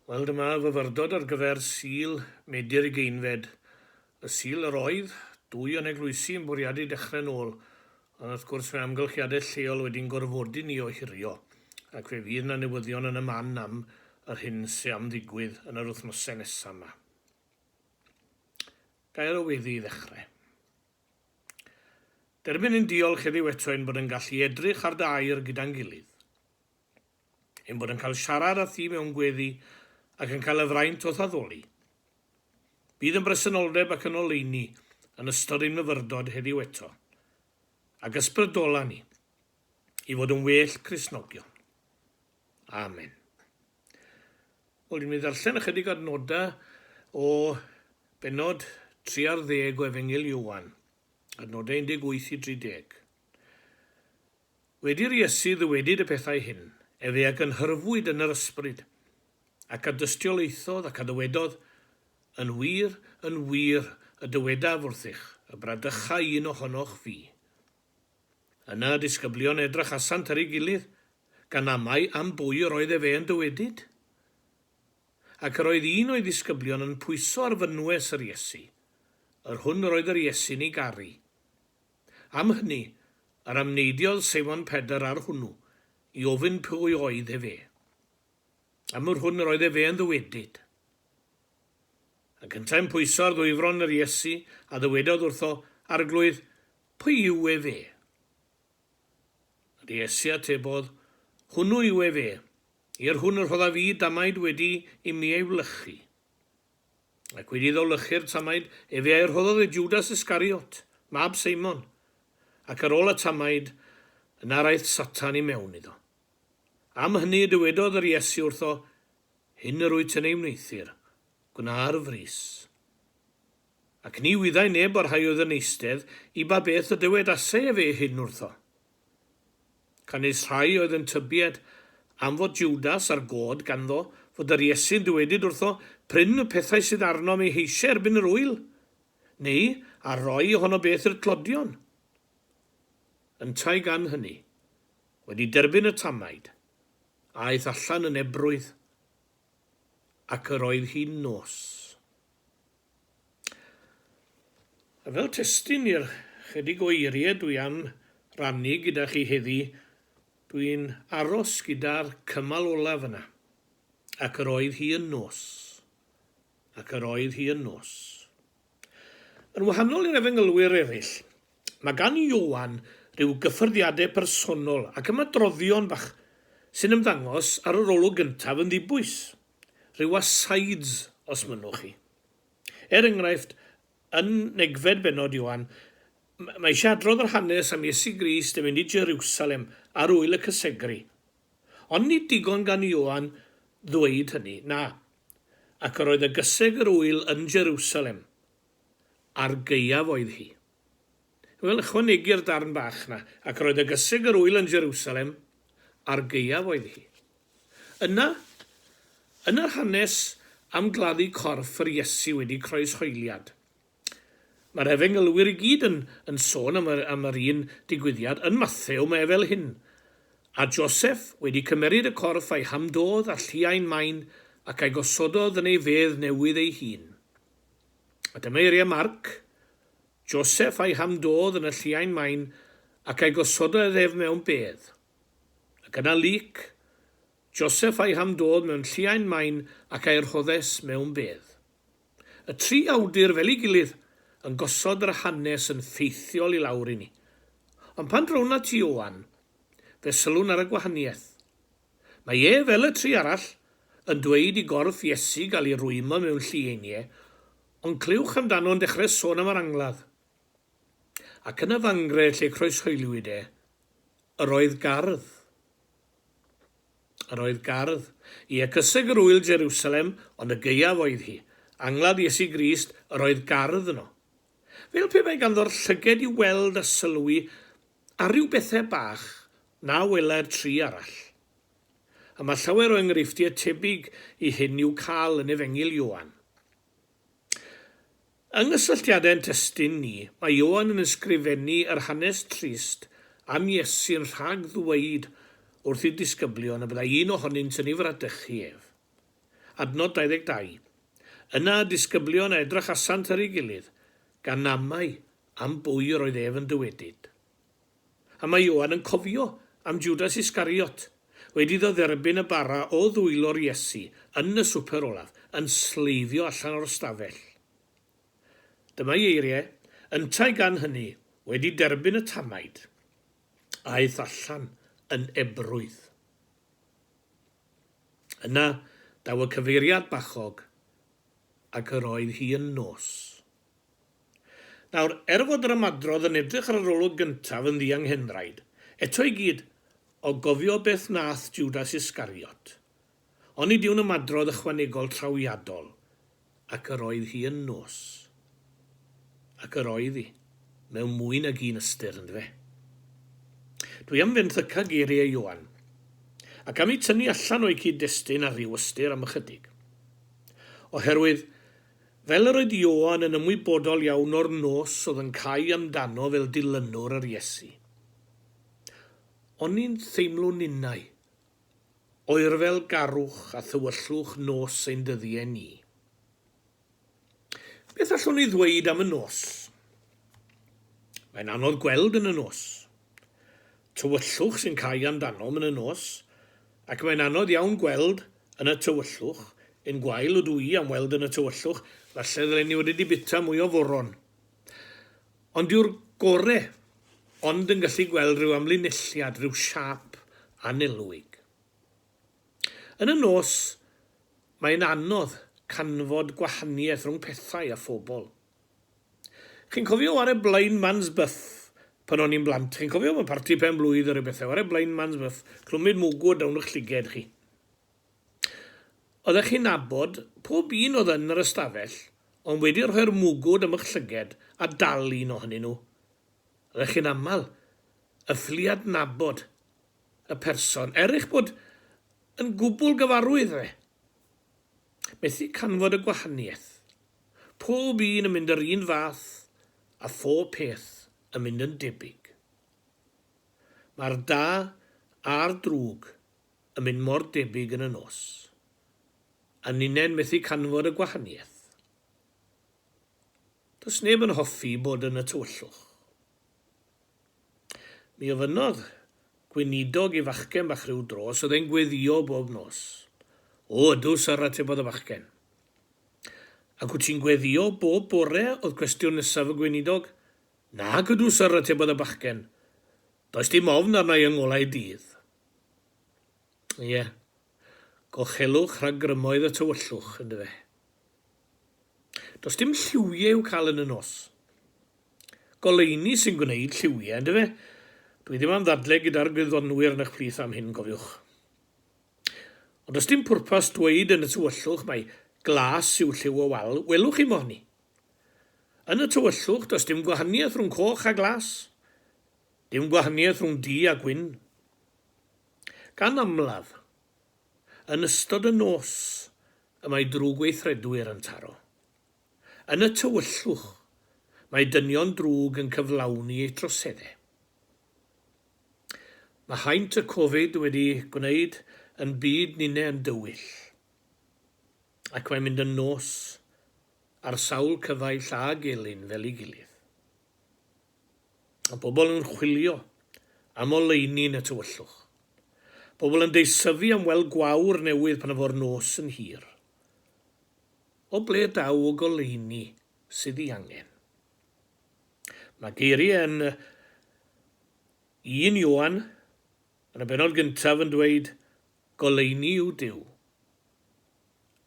Wel, dyma fyfyrdod ar gyfer Sul Medi'r Ugeinfed, y Sul yr oedd dwy o'n eglwysi yn bwriadu dechrau'n ôl, ond wrth gwrs mae amgylchiadau lleol wedi'n gorfodi ni ohirio, ac fe fydd 'na newyddion yn y man am yr hyn sy' am ddigwydd yn yr wythnosau nesa' 'ma. Gair o weddi i ddechrau. Derbyn ein diolch heddiw eto ein bod yn gallu edrych ar dy air gyda'n gilydd. ein bod yn cael siarad â thi mewn gweddi ac yn cael y fraint o'th addoli. Bydd yn bresenoldeb ac yn oleuni yn ystod ein myfyrdod heddiw eto, ac ysbrydola ni i fod yn well Cristnogion. Amen. Wel, dwi'n mynd i ddarllen ychydig adnodau o benod 3 ar ddeg o Efengil Iwan, adnodau 18 i 30. Wedi'r Iesu ddywedyd y pethau hyn, efe a gynhyrfwyd yn yr ysbryd, ac a dystiolaethodd ac a ddywedodd, Yn wir, yn wir, y dywedaf wrthych, y bradychai un ohonoch fi. Yna y disgyblion edrachasant ar ei gilydd, gan amau am bwy yr oedd efe yn dywedyd. Ac yr oedd un o'i ddisgyblion yn pwyso ar fynwes yr Iesu, yr hwn yr oedd yr Iesu'n ei garu. Am hynny, yr amneidiodd Seimon Pedr ar hwnnw, i ofyn pwy oedd ef e. Am yr hwn yr oedd ef e'n ddywedyd. Yn cyntaf yn pwyso ar ddwyfron yr Iesu, a ddywedodd wrtho, Arglwydd, pwy yw ef e? Yr Iesu atebodd, Hwnnw yw ef e, i'r hwn y rhoddaf i damaid wedi i mi ei wlychu. Ac wedi iddo lychu'r tamaid, efe a'i rhoddodd i Jwdas Iscariot, mab Seimon. Ac ar ôl y tamaid, yna raeth Satan i mewn iddo. Am hynny y dywedodd yr Iesu wrtho, Hyn yr wyt yn ei wneuthur, gwna ar frys. Ac ni wyddai neb o'r rhai oedd yn eistedd i ba beth y dywedasai efe hyn wrtho. Canys rhai oedd yn tybied am fod Jwdas ar god ganddo fod yr Iesu'n dywedyd wrtho, Pryn y pethau sydd arnom eu heisiau erbyn yr ŵyl, neu a roi ohono beth i'r tlodion. Yntau gan hyny, wedi derbyn y tanaid, aeth allan yn ebrwydd, ac yr oedd hi'n nos. A fel testun i'r chydig o eirie dwi am rannu gyda chi heddi, dwi'n aros gyda'r cymal olaf yna. Ac yr oedd hi yn nos. Ac yr oedd hi yn nos. Yn wahanol i'r Efengylwyr ereill, mae gan Ioan ryw gyffyrddiade personol ac ymadroddion bach sy'n ymddangos ar yr olwg gyntaf yn ddibwys. rhyw asides os mynnwch chi. Er enghraifft, yn negfed bennod Ioan, mae eisiau adrodd yr hanes am Iesu Grist yn mynd i Jerusalem ar ŵyl y Cysegru. Ond nid digon gan Ioan ddweud hynny, na, ac yr oedd y gyseg yr ŵyl yn Jerusalem. Ar gaeaf oedd hi. Wel, ychwanegi'r darn bach 'na, Ac roedd y gyseg yr ŵyl yn Jerusalem a'r gaeaf oedd hi. Yna, yn yr hanes am gladdu corff yr Iesu wedi croeshoeliad, mae'r Efengylwyr i gyd yn yn sôn am yr am yr un digwyddiad, yn Mathew mae e fel hyn, A Joseff wedi cymeryd y corff a'i hamdodd â lliain main ac a'i gosododd yn ei fedd newydd ei hun. A dyma eiriau Marc, Joseph a'i ham dodd yn y lliain main ac a'i gosododd ef mewn bedd. Ac yna Luc, Joseph a'i ham dodd mewn lliain main ac a'i rhoddes mewn bedd. Y tri awdur fel ei gilydd yn gosod yr hanes yn ffeithiol i lawr i ni. Ond pan drown at Ioan, fe sylwn ar y gwahaniaeth. Mae e, fel y tri arall, yn dweud i gorff Iesu gael ei rwymo mewn llu einiau, ond clywch amdano'n dechrau sôn am yr angladd. Ac yn y fangre lle croeshoeliwyd e, yr oedd gardd. Yr oedd gardd. Ie, cyseg yr ŵyl Jerusalem, ond y gaeaf oedd hi. Angladd Iesu Grist, yr oedd gardd yno. Fel pe bai ganddo'r llyged i weld a sylwi A rhyw bethau bach na welai'r tri arall. A mae llawer o enghreifftiau tebyg i hyn i'w cael yn Efengyl Ioan. Yng nghysylltiadau ein testun ni, mae Ioan yn ysgrifennu yr hanes trist am Iesu'n rhag ddweud wrth ei ddisgyblion y byddai un ohonynt yn ei fradychu ef. Adnod 22, Yna y disgyblion a edrychasant ar ei gilydd, gan amau Am bwy yr oedd ef yn dywedyd? A mae Ioan yn cofio am Jwdas Iscariot, wedi iddo dderbyn y bara o ddwylo'r Iesu yn y swper olaf, yn sleifio allan o'r ystafell. Dyma'i eiriau, Yntau gan hynny, wedi derbyn y tamaid, aeth allan yn ebrwydd. Yna, daw y cyfeiriad bachog, ac yr oedd hi yn nos. Nawr, er fod yr ymadrodd yn edrych ar yr olwg gyntaf yn ddianghenraid, eto i gyd, o gofio beth wnaeth Jwdas Iscariot, onid yw'n ymadrodd ychwanegol trawiadol, ac yr oedd hi yn nos. Ac yr oedd hi, mewn mwy nag un ystyr, yndyfe? Dwi am fenthyca geiriau Ioan, ac am eu tynnu allan o'u cyd-destun ar ryw ystyr am ychydig. Oherwydd, Fel yr oedd Ioan yn ymwybodol iawn o'r nos oedd yn cau amdano fel dilynwr yr Iesu. Oni'n theimlo ninnau, oerfel garwch a thywyllwch nos ein dyddiau ni. Beth allwn ni ddweud am y nos? Mae'n anodd gweld yn y nos. tywyllwch sy'n cau amdanom yn y nos, ac mae'n anodd iawn gweld yn y tywyllwch, un gwael ydw i am weld yn y tywyllwch, falle ddylen i wedi di bita mwy o foron. Ond dyw'r gore ond yn gallu gweld rhyw amlinelliad, rhyw siâp annelwig. Yn y nos, mae'n anodd canfod gwahaniaeth rhwng pethau a phobl. Chi'n cofio ware Blind Man's Buff pan o'n i'n blant? Chi'n cofio fy mharti pen blwydd a rhyw bethau? Ware Blind Man's Buff, clwmid mwgw o dawn 'ych llyged chi. Oeddech chi'n nabod pob un oedd yn yr ystafell ond wedi rhoi'r mwgw dan 'ych llyged a dal un ohonyn nhw. Oeddech chi'n aml yn ffili adnabod y person er eich bod yn gwbl gyfarwydd â fe. Methu canfod y gwahaniaeth. Pob un yn mynd yr un fath a phob peth yn mynd yn debyg. Mae'r da a'r drwg yn mynd mor debyg yn y nos. A ninnau'n methu canfod y gwahaniaeth. Does neb yn hoffi bod yn y tywyllwch. Mi ofynnodd gweinidog i fachgen bach ryw dro os oedd e'n gweddïo bob nos. O, ydw, syr, atebodd y fachgen. Ac wyt ti'n gweddïo bob bore? oedd cwestiwn nesaf y gweinidog. Nac ydw, syr, atebodd y bachgen. Does dim ofn arna i yng ngolau dydd. Ie, gochelwch rhag grymoedd y tywyllwch, yndyfe? Does dim lliwiau i'w cael yn y nos. Goleuni sy'n gwneud lliwiau, yn dyfe? Dwi ddim am ddadle gyda'r gwyddonwyr yn eich plith am hyn, cofiwch. Ond does dim pwrpas dweud yn y tywyllwch mai glas yw lliw y wal, welwch chi mohni. Yn y tywyllwch, does dim gwahaniaeth rhwng coch a glas. Dim gwahaniaeth rhwng du a gwyn. Gan amlaf, yn ystod y nos y mae drwg weithredwyr yn taro. Yn y tywyllwch, mae dynion drwg yn cyflawni eu troseddau. Mae haint y Covid wedi gwneud yn byd ninne yn dywyll, ac mae'n mynd yn nos ar sawl cyfaill a gelyn fel ei gilydd. Mae pobl yn chwilio am oleuni yn y tywyllwch. Pobl yn deisyfu am weld gwawr newydd pan fo'r nos yn hir. O ble daw y goleuni sydd i angen? Mae geiriau yn un Ioan, yn y benod gyntaf yn dweud, Goleuni yw Duw,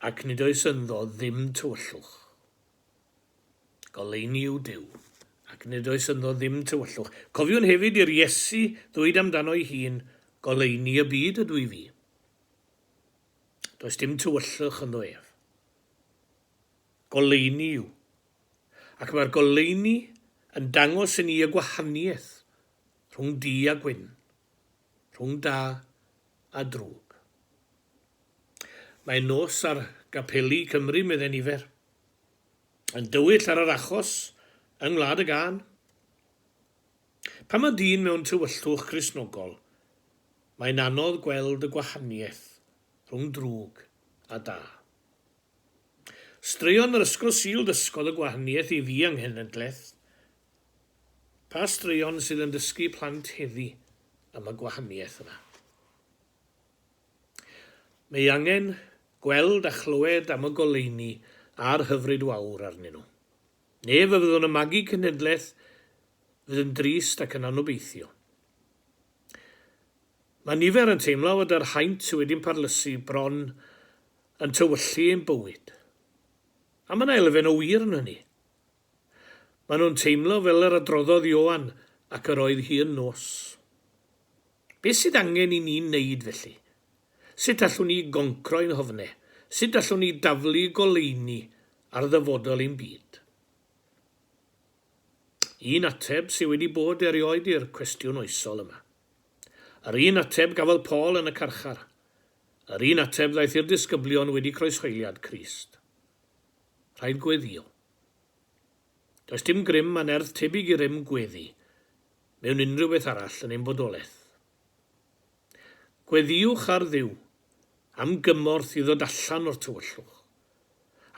ac nid oes ynddo ddim tywyllwch. Goleuni yw Duw, ac nid oes ynddo ddim tywyllwch. Cofiwn hefyd i'r Iesu ddweud amdano'i hun, Goleuni y byd ydw i fi. Does dim tywyllwch ynddo ef. Goleuni yw. Ac mae'r goleuni yn dangos i ni y gwahaniaeth rhwng du a gwyn, rhwng da a drwg. Mae nos ar gapeli Cymru, medde nifer, yn dywyll ar yr achos yng Ngwlad y Gân. Pan mae dyn mewn tywyllwch Gristnogol, mae'n anodd gweld y gwahaniaeth rhwng drwg a da. Straeon yr Ysgol Sul ddysgodd y gwahaniaeth i fi yng nghenedlaeth. Pa straeon sydd yn dysgu plant heddi am y gwahaniaeth yna? Mae angen gweld a chlywed am y goleuni a'r hyfryd wawr arnyn nhw. Neu fe fyddwn yn magu cenhedlaeth fydd yn drist ac yn anobeithiol. Mae nifer yn teimlo fod yr haint sydd wedi'n parlysu bron yn tywyllu ein bywyd. A mae yna elfen o wir yn hynny. Maen nhw'n teimlo fel yr adroddodd Ioan ac yr oedd hi yn nos. Beth sydd angen i ni wneud felly? Sut allwn ni goncro ein hofnau? Sut allwn ni daflu goleuni ar ddyfodol ein byd? Un ateb sydd wedi bod erioed i'r cwestiwn oesol yma. Yr un ateb gafodd Paul yn y carchar. Yr un ateb ddaeth i'r disgyblion wedi croeshoeliad Crist. Rhaid gweddio. Does dim grym a nerth tebyg i rym gweddi. mewn unrhyw beth arall yn ein bodolaeth. Gweddïwch ar Dduw am gymorth i ddod allan o'r tywyllwch,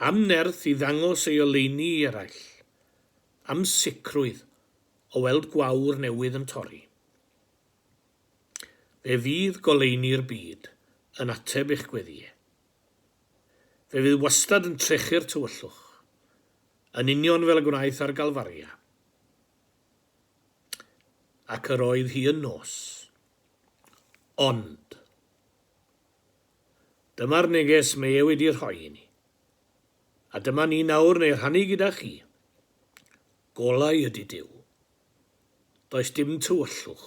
am nerth i ddangos ei oleuni i eraill, am sicrwydd o weld gwawr newydd yn torri. Fe fydd goleuni'r byd yn ateb eich gweddïau. Fe fydd wastad yn trechu'r tywyllwch, yn union fel y gwnaeth ar Galfaria. Ac yr oedd hi yn nos. Ond. Dyma'r neges mae e wedi rhoi i ni. A dyma ni nawr yn ei rhannu gyda chi. Golau ydy Duw. Does dim tywyllwch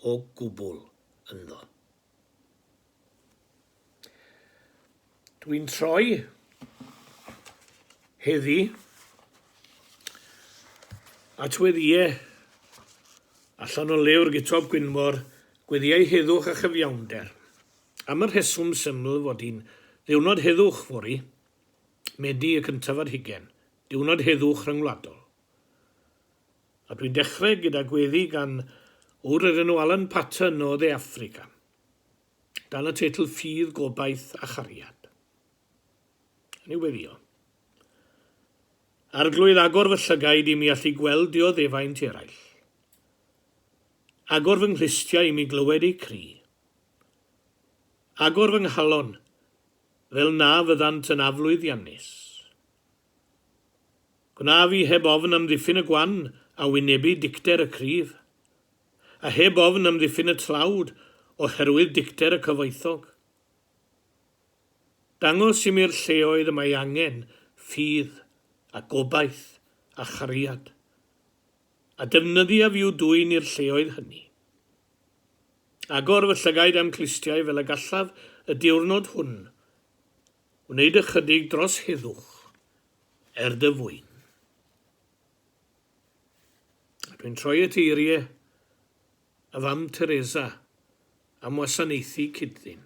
o gwbl ynddo. Dwi'n troi heddi at weddiau allan o lewr Gutob Gwynfor, Gweddïau Heddwch a Chyfiawnder. Am y rheswm syml fod hi'n ddiwrnod heddwch fory, Medi y cyntaf ar hugen, diwrnod heddwch rhyngwladol. A dwi'n dechrau gyda gweddi gan ŵr o'r enw Alan Paton o Dde Affrica, dan y teitl Ffydd, Gobaith a Chariad. Yn ei weddio. Arglwydd, agor fy llygaid i mi allu gweld dioddefaint eraill. Agor fy nghlustiau i mi glywed eu cri. Agor fy nghalon, fel na fyddant yn aflwyddiannus. Gwnaf i heb ofn amddiffyn y gwan a wynebu dicter y cryf, a heb ofn amddiffyn y tlawd oherwydd dicter y cyfoethog. Dangos i mi'r lleoedd y mae angen ffydd a gobaith a chariad, a defnyddia fi i'w dwyn i'r lleoedd hynny. Agor fy llygaid a'm clustiau fel y gallaf y diwrnod hwn, Wneud ychydig dros heddwch er dy fwyn. A dwi'n troi at eirie y fam Teresa am wasanaethu cyd-ddyn.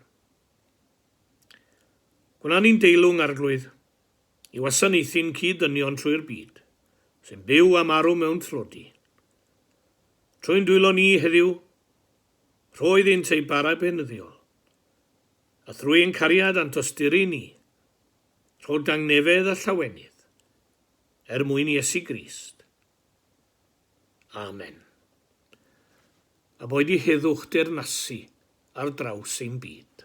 Gwna ni'n deilwng arglwydd i wasanaethu'n cyd-ddynion trwy'r byd sy'n byw a marw mewn tlodi. Trwy'n dwylo ni heddiw, rhoeddynt eu bara benyddiol A thrwy ein cariad a'n tosturi ni, rho dangnefedd a llawenydd, er mwyn Iesu Grist. Amen. A boed i heddwch deyrnasu ar draws ein byd.